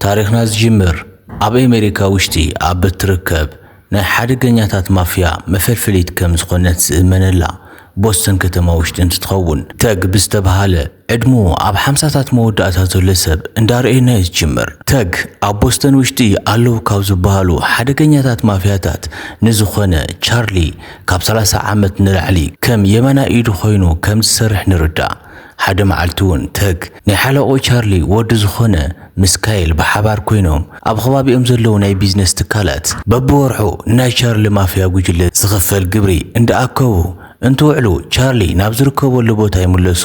ታሪኽና ዝጅምር ኣብ ኣሜሪካ ውሽጢ ኣብ እትርከብ ናይ ሓደገኛታት ማፍያ መፈልፈሊት ከም ዝኾነት ዝእመነላ ቦስተን ከተማ ውሽጢ እንትትኸውን ተግ ብዝተብሃለ ዕድሙ ኣብ ሓምሳታት መወዳእታ ዘሎ ሰብ እንዳርኣየና እዩ ዝጅምር። ተግ ኣብ ቦስተን ውሽጢ ኣለዉ ካብ ዝበሃሉ ሓደገኛታት ማፍያታት ንዝኾነ ቻርሊ ካብ ሰላሳ ዓመት ንላዕሊ ከም የማናይ ኢዱ ኮይኑ ከም ዝሰርሕ ንርዳእ። ሓደ መዓልቲ እውን ተግ ናይ ሓለቕኡ ቻርሊ ወዲ ዝኾነ ምስ ካይል ብሓባር ኮይኖም ኣብ ኸባቢኦም ዘለዉ ናይ ቢዝነስ ትካላት በብወርሑ ንናይ ቻርሊ ማፍያ ጉጅለ ዝኽፈል ግብሪ እንዳኣከቡ እንትውዕሉ ቻርሊ ናብ ዝርከበሉ ቦታ ይምለሱ።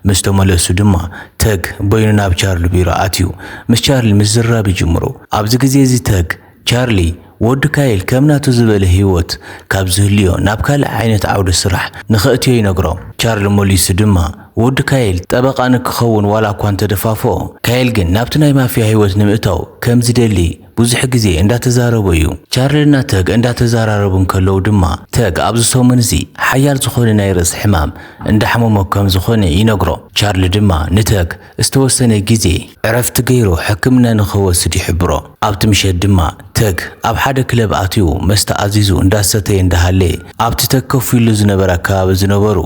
ምስ ተመለሱ ድማ ተግ በይኑ ናብ ቻርሊ ቢሮ ኣትዩ ምስ ቻርሊ ምዝርራብ ይጅምሩ። ኣብዚ ግዜ እዚ ተግ ቻርሊ፣ ወዲ ካይል ከም ናቱ ዝበለ ህይወት ካብ ዝህልዮ ናብ ካልእ ዓይነት ዓውደ ስራሕ ንኸእትዮ ይነግሮ። ቻርሊ መሊሱ ድማ ወዲ ካይል ጠበቓ ንክኸውን ዋላ እኳ እንተደፋፍኦ፣ ካይል ግን ናብቲ ናይ ማፍያ ህይወት ንምእታው ከም ዝደሊ ብዙሕ ግዜ እንዳተዛረቦ እዩ። ቻርሊና ተግ እንዳተዘራረቡ እንከለዉ ድማ፣ ተግ ኣብዚ ሰሙን እዚ ሓያል ዝኾነ ናይ ርእሲ ሕማም እንዳሕመሞ ከም ዝኾነ ይነግሮ። ቻርሊ ድማ ንተግ፣ ዝተወሰነ ግዜ ዕረፍቲ ገይሩ ሕክምና ንኽወስድ ይሕብሮ። ኣብቲ ምሸት ድማ ተግ ኣብ ሓደ ክለብ ኣትዩ መስተ ኣዚዙ እንዳሰተየ እንዳሃለየ ኣብቲ ተግ ከፍ ኢሉ ዝነበረ ኣከባቢ ዝነበሩ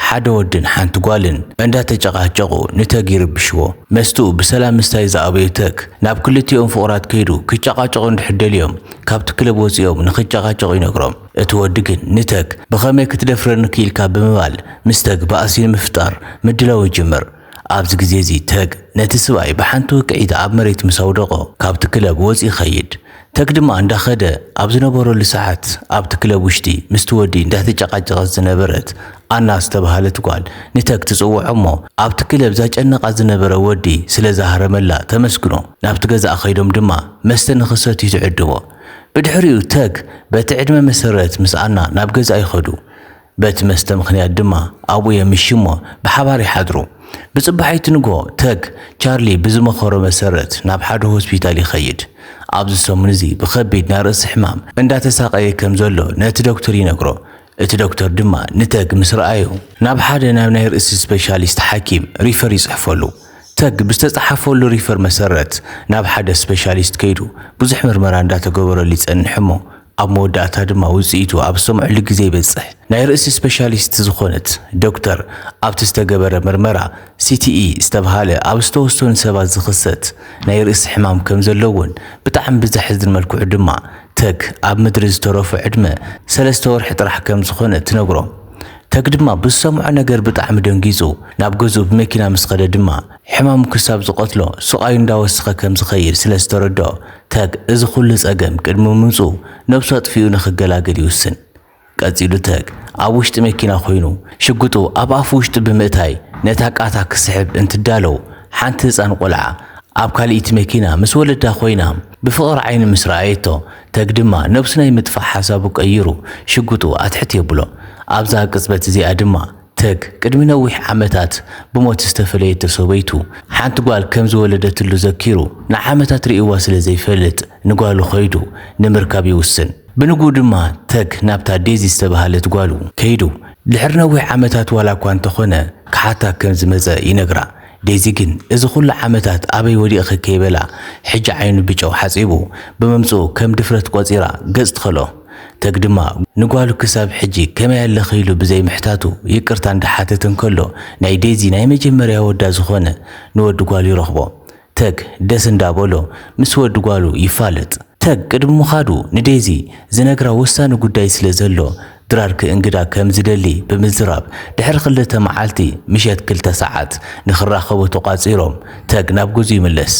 ሓደ ወድን ሓንቲ ጓልን እንዳተጨቓጨቑ ንተግ ይርብሽዎ። መስተኡ ብሰላም ምስታይ ዝኣበዩ ተግ ናብ ክልቲኦም ፍቑራት ከይዱ ክጨቓጨቑ እንድሕር ደልዮም ካብቲ ክለብ ወጺኦም ንኽጨቓጨቑ ይነግሮም። እቲ ወዲ ግን ንተግ ብኸመይ ክትደፍረኒ ክኢልካ ብምባል ምስ ተግ ባእሲ ንምፍጣር ምድላው ይጅምር። ኣብዚ ግዜ'ዚ ተግ ነቲ ስብኣይ ብሓንቲ ውቅዒት ኣብ መሬት ምስ ኣውደቖ ካብቲ ክለብ ወጽዩ ይኸይድ። ተግ ድማ እንዳኸደ ኣብ ዝነበረሉ ሰዓት ኣብቲ ክለብ ውሽጢ ምስቲ ወዲ እንዳተጨቓጨቐት ዝነበረት ኣና ዝተባህለት ጓል ንተግ ትጽውዖ'ሞ ኣብቲ ክለብ ዛጨንቓ ዝነበረ ወዲ ስለዝሃረመላ ተመስግኖ ናብቲ ገዛኣ ከይዶም ድማ መስተ ንኽሰትዩ ትዕድሞ። ብድሕሪኡ ተግ በቲ ዕድመ መሰረት ምስ ኣና ናብ ገዝኣ ይኸዱ። በቲ መስተ ምኽንያት ድማ ኣብኡ የምሽዩ'ሞ ብሓባር ይሓድሩ። ብጽባሒቱ ንግሆ፣ ተግ፣ ቻርሊ ብዝመኸሮ መሰረት ናብ ሓደ ሆስፒታል ይኸይድ። ኣብዚ ሰሙን'ዚ ብኸቢድ ናይ ርእሲ ሕማም እንዳተሳቐየ ከም ዘሎ ነቲ ዶክተር ይነግሮ። እቲ ዶክተር ድማ ንተግ ምስ ረኣዮ። ናብ ሓደ ናብ ናይ ርእሲ ስፔሻሊስት ሓኪም ሪፈር ይጽሕፈሉ። ተግ ብዝተጸሓፈሉ ሪፈር መሰረት ናብ ሓደ ስፔሻሊስት ከይዱ ብዙሕ ምርመራ እንዳተገበረሉ ይጸንሕ'ሞ ኣብ መወዳእታ ድማ ውጽኢቱ ኣብ ዝሰምዑሉ ግዜ ይበጽሕ። ናይ ርእሲ ስፔሻሊስት ዝኾነት ዶክተር ኣብቲ ዝተገበረ ምርመራ CTE ዝተብሃለ ኣብ ዝተወሰኑ ሰባት ዝኽሰት ናይ ርእሲ ሕማም ከም ዘለዎን ብጣዕሚ ብዘሕዝን መልክዑ ድማ ተግ ኣብ ምድሪ ዝተረፎ ዕድመ ሰለስተ ወርሒ ጥራሕ ከም ዝኾነ ትነግሮም። ተግ ድማ ብዝሰምዖ ነገር ብጣዕሚ ደንጊጹ ናብ ገዝኡ ብመኪና ምስ ኸደ ድማ ሕማሙ ክሳብ ዝቐትሎ ስቓዩ እንዳወሰኸ ከም ዝኸይድ ስለ ዝተረድኦ፣ ተግ እዚ ኹሉ ጸገም ቅድሚ ምምጽኡ ነብሱ ኣጥፊኡ ንኽገላገል ይውስን። ቀጺሉ ተግ ኣብ ውሽጢ መኪና ኮይኑ ሽጉጡ ኣብ ኣፍ ውሽጡ ብምእታይ ነታ ቃታ ክስሕብ እንትዳለው ሓንቲ ህጻን ቆልዓ ኣብ ካልኢቲ መኪና ምስ ወለዳ ኮይና ብፍቕሪ ዓይኒ ምስ ረኣየቶ ተግ ድማ ነብሱ ናይ ምጥፋእ ሓሳቡ ቀይሩ ሽጉጡ ኣትሕት የብሎ ኣብዛ ቅጽበት እዚኣ ድማ ተግ፣ ቅድሚ ነዊሕ ዓመታት ብሞት ዝተፈለየቶ ሰበይቱ፣ ሓንቲ ጓል ከም ዝወለደትሉ ዘኪሩ፣ ንዓመታት ርእይዋ ስለ ዘይፈልጥ፣ ንጓሉ ከይዱ ንምርካብ ይውስን። ብንግኡ ድማ ተግ ናብታ ዴዚ ዝተበሃለት ጓሉ ከይዱ፣ ድሕሪ ነዊሕ ዓመታት ዋላ'ኳ እንተኾነ ክሓታ ከም ዝመጸ ይነግራ። ዴዚ ግን እዚ ኩሉ ዓመታት ኣበይ ወዲቕኺ ከይበላ፣ ሕጂ ዓይኑ ብጨው ሓጺቡ ብምምጽኡ ከም ድፍረት ቆጺራ ገጽ ትኸልኦ። ተግ ድማ ንጓሉ ክሳብ ሕጂ ከመይ ኣለኺ ኢሉ ብዘይ ምሕታቱ ይቅርታ እንዳሓተተ እንከሎ ናይ ዴዚ ናይ መጀመርያ ወዳ ዝኾነ ንወዲ ጓሉ ይረኽቦ። ተግ ደስ እንዳበሎ ምስ ወዲ ጓሉ ይፋለጥ። ተግ ቅድሚ ምኻዱ ንዴዚ ዝነግራ ወሳኒ ጉዳይ ስለ ዘሎ ድራር ክእንግዳ ከም ዝደሊ ብምዝራብ ድሕሪ ክልተ መዓልቲ ምሸት ክልተ ሰዓት ንኽራኸቡ ተቋጺሮም ተግ ናብ ገዝኡ ይምለስ።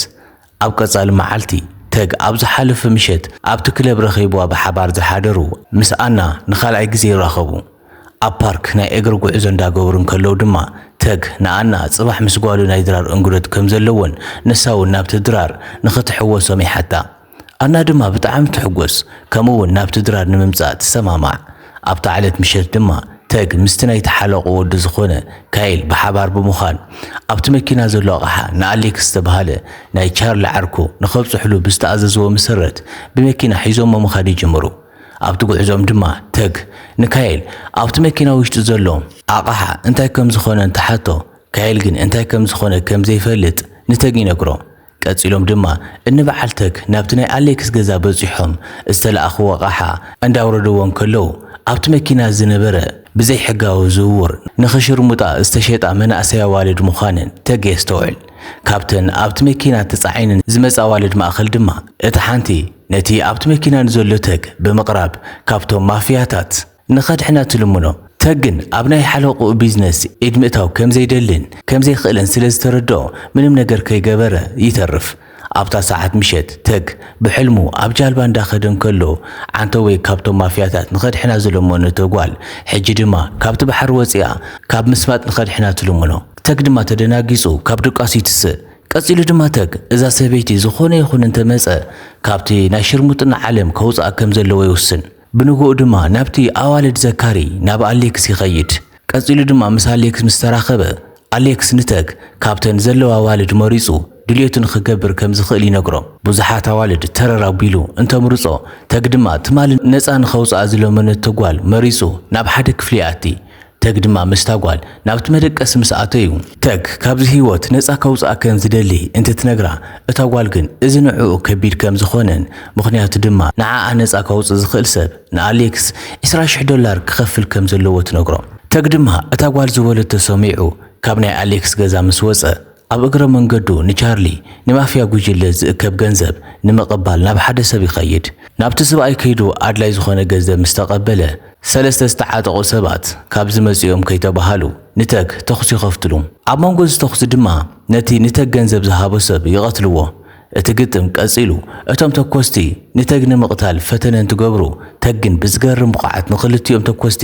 ኣብ ቀጻሊ መዓልቲ፣ ተግ ኣብ ዝሓለፈ ምሸት ኣብቲ ክለብ ረኺብዋ ብሓባር ዝሓደሩ ምስ ኣና ንኻልኣይ ግዜ ይራኸቡ። ኣብ ፓርክ ናይ እግሪ ጉዕዞ እንዳገበሩ እንከለዉ ድማ ተግ ንኣና ጽባሕ ምስ ጓሉ ናይ ድራር እንግዶት ከም ዘለዎን ንሳ'ውን ናብቲ ድራር ንኽትሕወሶም ይሓታ። ኣና ድማ ብጣዕሚ ትሕጎስ ከምኡ'ውን ናብቲ ድራር ንምምጻእ ትሰማማዕ። ኣብታ ዕለት ምሸት ድማ ተግ ምስቲ ናይቲ ሓለቕኡ ወዲ ዝኾነ ካይል ብሓባር ብምዃን ኣብቲ መኪና ዘሎ ኣቕሓ ንኣሌክስ ዝተብሃለ ናይ ቻርሊ ዓርኩ ንኸብጽሑሉ ብዝተኣዘዝዎ መሰረት ብመኪና ሒዞሞ ምኻድ ይጅምሩ። ኣብቲ ጉዕዞኦም ድማ ተግ ንካይል ኣብቲ መኪና ውሽጢ ዘሎ ኣቕሓ እንታይ ከምዝኾነ እንትሓቶ ካይል ግን እንታይ ከምዝኾነ ከምዘይፈልጥ ንተግ ይነግሮ። ቀጺሎም ድማ እኒ በዓል ተክ ናብቲ ናይ ኣሌክስ ገዛ በጺሖም ዝተለኣኽዎ ኣቓሓ እንዳውረድዎ እንከለው ኣብቲ መኪና ዝነበረ ብዘይ ሕጋዊ ዝውውር ንክሽርሙጣ ዝተሸጣ መናእሰይ ኣዋልድ ምዃነን ተግ የስተውዕል። ካብተን ኣብቲ መኪና ተጻዒነን ዝመጻ ኣዋልድ ማእኸል ድማ እታ ሓንቲ ነቲ ኣብቲ መኪና ንዘሎ ተግ ብምቕራብ ካብቶም ማፍያታት ንኸድሕና ትልምኖ። ተግን ኣብ ናይ ሓለቕኡ ቢዝነስ ኢድ ምእታው ከም ዘይደልን ከም ዘይክእልን ስለ ዝተረድኦ ምንም ነገር ከይገበረ ይተርፍ። ኣብታ ሰዓት ምሸት ተግ ብሕልሙ ኣብ ጃልባ እንዳኸደ እንከሎ ዓንተወይ ካብቶም ማፍያታት ንኸድሕና ዝለመኖ እቶ ጓል ሕጂ ድማ ካብቲ ባሕሪ ወጺኣ ካብ ምስማጥ ንኸድሕና ትልምኖ። ተግ ድማ ተደናጊጹ ካብ ድቃሱ ይትስእ። ቀጺሉ ድማ ተግ እዛ ሰበይቲ ዝኾነ ይኹን እንተመጸ ካብቲ ናይ ሽርሙጥና ዓለም ከውጽኣ ከም ዘለዎ ይውስን። ብንግኡ ድማ ናብቲ ኣዋልድ ዘካሪ ናብ ኣሌክስ ይኸይድ። ቀጺሉ ድማ ምስ ኣሌክስ ምስ ተራኸበ፣ ኣሌክስ ንተግ ካብተን ዘለዋ ኣዋልድ መሪጹ ድልየቱ ንኽገብር ከም ዝኽእል ይነግሮ። ብዙሓት ኣዋልድ ተረር ኣቢሉ እንተምርጾ፣ ተግ ድማ ትማሊ ነጻ ንኸውጽኣ ዝለመነቶ ጓል መሪጹ ናብ ሓደ ክፍሊ ይኣቲ። ተግ ድማ ምስታ ጓል ናብቲ መደቀሲ ምስ ኣተዩ፣ ተግ ካብዚ ህይወት ነጻ ከውጽኣ ከም ዝደሊ እንትትነግራ፣ እታ ጓል ግን እዚ ንዕኡ ከቢድ ከም ዝኾነን ምኽንያቱ ድማ ንዓኣ ነጻ ከውጽእ ዝኽእል ሰብ ንኣሌክስ ዕስራ ሽሕ ዶላር ክኸፍል ከም ዘለዎ ትነግሮ። ተግ ድማ እታ ጓል ዝበለቶ ሰሚዑ ካብ ናይ ኣሌክስ ገዛ ምስ ወጸ፣ ኣብ እግረ መንገዱ ንቻርሊ ንማፍያ ጉጅለ ዝእከብ ገንዘብ ንምቕባል ናብ ሓደ ሰብ ይኸይድ። ናብቲ ስብኣይ ከይዱ ኣድላይ ዝኾነ ገዘብ ምስ ተቐበለ፣ ሰለስተ ዝተዓጠቑ ሰባት ካብዚ መጺኦም ከይተባሃሉ ንተግ ተኹሲ ይኸፍትሉ። ኣብ መንጎ እዚ ተኹሲ ድማ ነቲ ንተግ ገንዘብ ዝሃቦ ሰብ ይቐትልዎ። እቲ ግጥም ቀጺሉ፣ እቶም ተኮስቲ ንተግ ንምቕታል ፈተነ እንትገብሩ፣ ተግ ግን ብዝገርም ብቕዓት ንኽልቲኦም ተኮስቲ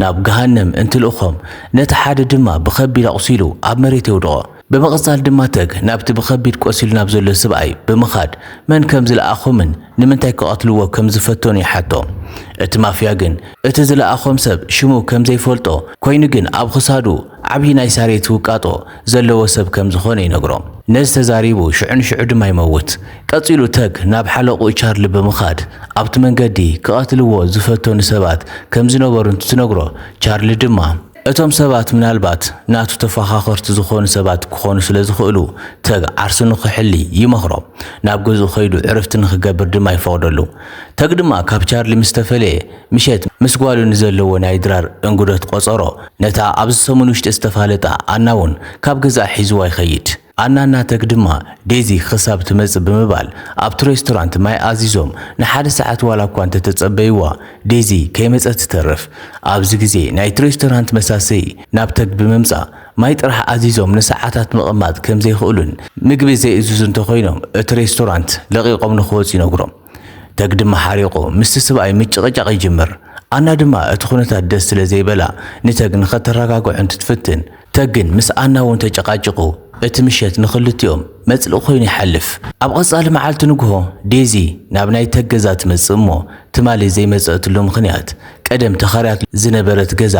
ናብ ገሃነም እንትልእኾም፣ ነቲ ሓደ ድማ ብኸቢድ ኣቑሲሉ ኣብ መሬት የውድቖ። ብምቕጻል ድማ ተግ ናብቲ ብኸቢድ ቆሲሉ ናብ ዘሎ ስብኣይ ብምኻድ መን ከም ዝለኣኾምን ንምንታይ ክቐትልዎ ከም ዝፈተኑ ይሓቶ። እቲ ማፍያ ግን እቲ ዝለኣኾም ሰብ ሽሙ ከም ዘይፈልጦ ኮይኑ ግን ኣብ ኽሳዱ፣ ዓብዪ ናይ ሳሬት ውቃጦ ዘለዎ ሰብ ከም ዝኾነ ይነግሮ። ነዚ ተዛሪቡ ሽዑ ንሽዑ ድማ ይመውት። ቀጺሉ ተግ ናብ ሓለቕኡ ቻርሊ ብምኻድ ኣብቲ መንገዲ ክቐትልዎ ዝፈተኑ ሰባት ከም ዝነበሩ እንትትነግሮ ቻርሊ ድማ፣ እቶም ሰባት ምናልባት ናቱ ተፋኻኸርቲ ዝኾኑ ሰባት ክኾኑ ስለ ዝኽእሉ ተግ ዓርሱ ንኽሕሊ ይመኽሮ። ናብ ገዝኡ ከይዱ ዕርፍቲ ንኽገብር ድማ ይፈቕደሉ። ተግ ድማ ካብ ቻርሊ ምስ ተፈለየ፣ ምሸት ምስ ጓሉ ንዘለዎ ናይ ድራር እንግዶት ቆጸሮ። ነታ ኣብዚ ሰሙን ውሽጢ ዝተፋለጣ ኣና ውን ካብ ገዝኣ ሒዝዋ ይኸይድ። ኣና እና ተግ ድማ ዴዚ ኽሳብ ትመጽእ ብምባል ኣብቲ ሬስቶራንት ማይ ኣዚዞም ንሓደ ሰዓት ዋላ እኳ እንተተጸበይዋ ዴዚ ከይመጸት ትተርፍ። ኣብዚ ግዜ ናይቲ ሬስቶራንት መሳሰዪ ናብ ተግ ብምምጻእ ማይ ጥራሕ ኣዚዞም ንሰዓታት ምቕማጥ ከምዘይኽእሉን ምግቢ ዘይእዝዙ እንተኾይኖም እቲ ሬስቶራንት ለቒቖም ንኽወጹ ይነግሮም። ተግ ድማ ሓሪቑ ምስቲ ስብኣይ ምጭቕጫቕ ይጅምር። ኣና ድማ እቲ ኩነታት ደስ ስለ ዘይበላ ንተግ ንኸተረጋግዖ እንትትፍትን፣ ተግ ግን ምስ ኣና እውን ተጨቓጭቑ እቲ ምሸት ንኽልቲኦም መጽልኢ ኮይኑ ይሓልፍ። ኣብ ቐጻሊ መዓልቲ ንግሆ ዴዚ ናብ ናይ ተግ ገዛ ትመጽእ እሞ ትማሊ ዘይመጸእትሉ ምኽንያት ቀደም ተኻርያትሉ ዝነበረት ገዛ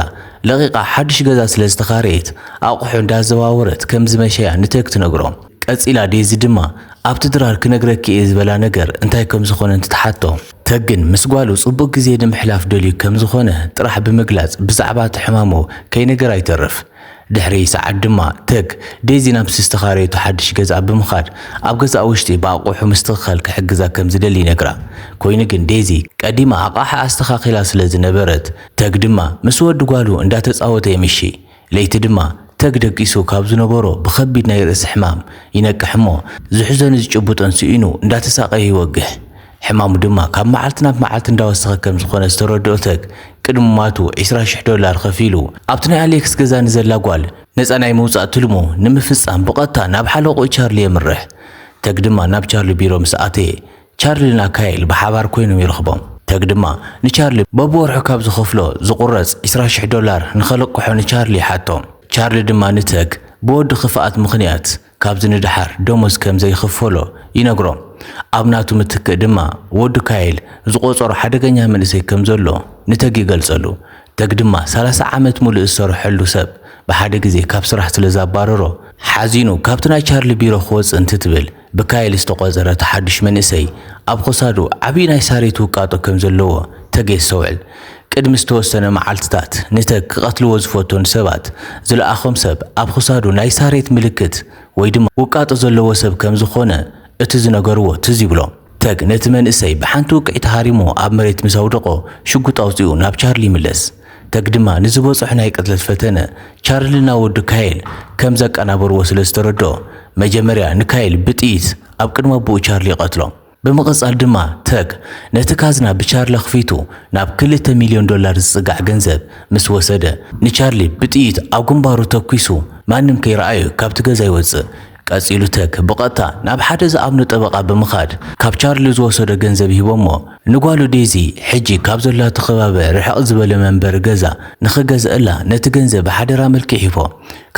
ለቒቓ ሓዱሽ ገዛ ስለ ዝተኻረየት ኣቑሑ እንዳዘዋወረት ከም ዝመሸያ ንተግ ትነግሮ። ቀጺላ ዴዚ ድማ፣ ኣብቲ ድራር ክነግረኪ እየ ዝበላ ነገር እንታይ ከም ዝዀነ እንትትሓቶ፣ ተግን ምስ ጓሉ ጽቡቕ ግዜ ንምሕላፍ ደልዩ ከም ዝዀነ ጥራሕ ብምግላጽ ብዛዕባ እቲ ሕማሙ ከይነገራ ይተርፍ። ድሕሪ ሰዓት ድማ ተግ፣ ዴዚ ናብቲ ዝተኻረየቶ ሓድሽ ገዝኣ ብምኻድ ኣብ ገዛኣ ውሽጢ ብኣቕሑ ምስትኽኻል ክሕግዛ ከም ዝደሊ ይነግራ። ኰይኑ ግን ዴዚ ቀዲማ ኣቓሓ ኣስተኻኺላ ስለ ዝነበረት፣ ተግ ድማ ምስ ወዲ ጓሉ እንዳተጻወተ የምሽይ። ለይቲ ድማ ተግ ደቂሱ ካብ ዝነበሮ ብኸቢድ ናይ ርእሲ ሕማም ይነቅሕ እሞ ዝሕዞን ዝጭብጦን ስኢኑ እንዳተሳቐየ ይወግሕ። ሕማሙ ድማ ካብ መዓልቲ ናብ መዓልቲ እንዳወሰኸ ከም ዝኾነ ዝተረድኦ ተግ ቅድሚ ምሟቱ ዕስራ ሽሕ ዶላር ኸፊሉ ኣብቲ ናይ ኣሌክስ ገዛ ንዘላ ጓል ነጻ ናይ ምውጻእ ትልሙ ንምፍጻም ብቐጥታ ናብ ሓለቕኡ ቻርሊ የምርሕ። ተግ ድማ ናብ ቻርሊ ቢሮ ምስ ኣተየ ቻርሊን ኣካይል ብሓባር ኰይኖም ይረኽቦም። ተግ ድማ ንቻርሊ በብወርሑ ካብ ዝኸፍሎ ዝቝረጽ ዕስራ ሽሕ ዶላር ንኸልቅሖ ንቻርሊ ይሓቶ። ቻርሊ ድማ ንተግ ብወዲ ኽፍኣት ምኽንያት ካብዚ ንደሓር ደሞዝ ከም ዘይኽፈሎ ይነግሮ። ኣብ ናቱ ምትክእ ድማ ወዱ ካይል ዝቖጸሮ ሓደገኛ መንእሰይ ከም ዘሎ ንተግ ይገልጸሉ። ተግ ድማ ሰላሳ ዓመት ምሉእ ዝሰርሐሉ ሰብ ብሓደ ግዜ ካብ ስራሕ ስለ ዘባረሮ ሓዚኑ ካብቲ ናይ ቻርሊ ቢሮ ክወጽእ እንትትብል ብካይል ዝተቖጸረ እቲ ሓዱሽ መንእሰይ፣ ኣብ ኸሳዱ ዓቢ ናይ ሳሬት ውቃጦ ከም ዘለዎ ተግ የስተውዕል። ቅድሚ ዝተወሰነ መዓልትታት፣ ንተግ ክቐትልዎ ዝፈትኑ ሰባት ዝለኣኾም ሰብ፣ ኣብ ኽሳዱ ናይ ሳሬት ምልክት ወይ ድማ ውቃጦ ዘለዎ ሰብ ከም ዝኾነ እቲ ዝነገርዎ ትዝ ይብሎ። ተግ ነቲ መንእሰይ ብሓንቲ ውቅዒት ሃሪሙ ኣብ መሬት ምስ ኣውደቖ፣ ሽጉጥ ኣውጺኡ ናብ ቻርሊ ይምለስ። ተግድማ ንዝበጸሖ ናይ ቅትለት ፈተነ ቻርልና ወዲ ካይል ከም ዘቀናበርዎ ስለ ዝተረድኦ፣ መጀመርያ ንካይል ብጥይት ኣብ ቅድሚ ኣቦኡ ቻርሊ ይቐትሎ። ብምቕጻል ድማ ተግ ነቲ ካዝና ብቻርሊ ኣኽፊቱ ናብ ክልተ ሚልዮን ዶላር ዝጽጋዕ ገንዘብ ምስ ወሰደ፣ ንቻርሊ ብጥይት ኣብ ግንባሩ ተኲሱ ማንም ከይረኣዩ ካብቲ ገዛ ይወጽእ። ቀጺሉ ተክ ብቐጥታ ናብ ሓደ ዝኣምኖ ጠበቓ ብምኻድ ካብ ቻርሊ ዝወሰዶ ገንዘብ ሂቦሞ ንጓሉ ዴዚ ሕጂ ካብ ዘላቶ ከባበ ርሕቕ ዝበለ መንበሪ ገዛ ንኽገዝእላ ነቲ ገንዘብ ብሓደራ መልክዕ ሂቦ።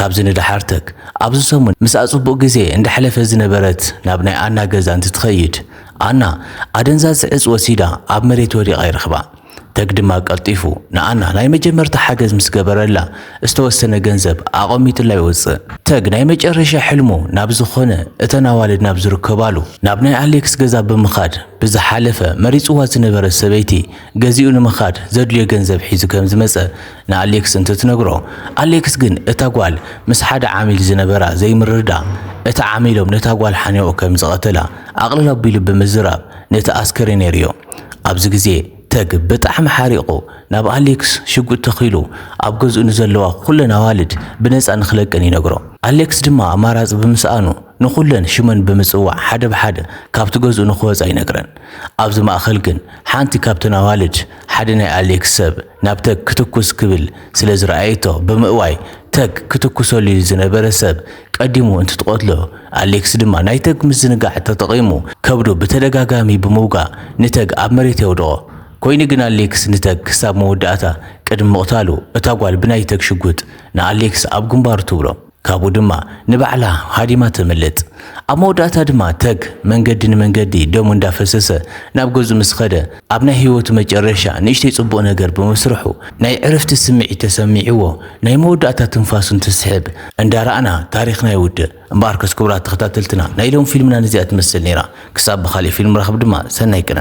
ካብዚ ንደሓር ተክ ኣብዚ ሰሙን ምስኣ ጽቡቕ ግዜ እንዳሕለፈት ዝነበረት ናብ ናይ ኣና ገዛ እንትትኸይድ ኣና ኣደንዛዚ ዕጽ ወሲዳ ኣብ መሬት ወዲቓ ይረኽባ። ተግ ድማ ቀልጢፉ ንኣና ናይ መጀመርታ ሓገዝ ምስ ገበረላ ዝተወሰነ ገንዘብ ኣቐሚጡላ ይወጽእ። ተግ ናይ መጨረሻ ሕልሙ ናብ ዝኾነ እተን ኣዋልድ ናብ ዝርከባሉ ናብ ናይ ኣሌክስ ገዛ ብምኻድ ብዝሓለፈ መሪጽዋ ዝነበረ ሰበይቲ ገዚኡ ንምኻድ ዘድልዮ ገንዘብ ሒዙ ከም ዝመጸ ንኣሌክስ እንትትነግሮ ኣሌክስ ግን እታ ጓል ምስ ሓደ ዓሚል ዝነበራ ዘይምርድዳእ እቲ ዓሚሎም ነታ ጓል ሓኒቑ ከም ዝቐተላ ኣቕልል ኣቢሉ ብምዝራብ ነቲ ኣስከሬን የርእዮ። ኣብዚ ግዜ ተግ ብጣዕሚ ሓሪቑ ናብ ኣሌክስ ሽጉጥ ተኺሉ ኣብ ገዝኡ ንዘለዋ ኩለን ኣዋልድ ብነጻ ንኽለቀን ይነግሮ። ኣሌክስ ድማ ኣማራጺ ብምስኣኑ ንኹለን ሽመን ብምጽዋዕ ሓደ ብሓደ ካብቲ ገዝኡ ንኽወጻ ይነግረን። ኣብዚ ማእኸል ግን ሓንቲ ካብተን ኣዋልድ ሓደ ናይ ኣሌክስ ሰብ ናብ ተግ ክትኩስ ክብል ስለዝረኣየቶ ብምእዋይ ተግ ክትኩሰሉ ዝነበረ ሰብ ቀዲሙ እንትትቐትሎ፣ ኣሌክስ ድማ ናይ ተግ ምዝንጋዕ ተጠቒሙ ከብዱ ብተደጋጋሚ ብምውጋእ ንተግ ኣብ መሬት የውድቖ። ኮይኑ ግን ኣሌክስ ንተግ ክሳብ መወዳእታ ቅድሚ ምቕታሉ እታ ጓል ብናይ ተግ ሽጉጥ ንኣሌክስ ኣብ ግንባሩ ትብሎ። ካብኡ ድማ ንባዕላ ሃዲማ ተምልጥ። ኣብ መወዳእታ ድማ ተግ መንገዲ ንመንገዲ ደሙ እንዳፈሰሰ ናብ ገዝኡ ምስ ኸደ፣ ኣብ ናይ ህይወቱ መጨረሻ ንእሽተይ ጽቡቕ ነገር ብምስርሑ ናይ ዕርፍቲ ስምዒት ተሰሚዕዎ ናይ መወዳእታ ትንፋሱ እንትስሕብ እንዳ ራእና ታሪኽና ይውድእ። እምበኣርከስ ክቡራት ተኸታተልትና ናይ ሎሚ ፊልምና ነዚኣ ትመስል ኔራ ክሳብ ብኻሊእ ፊልም ንራኸብ ድማ ሰናይ ቅነ።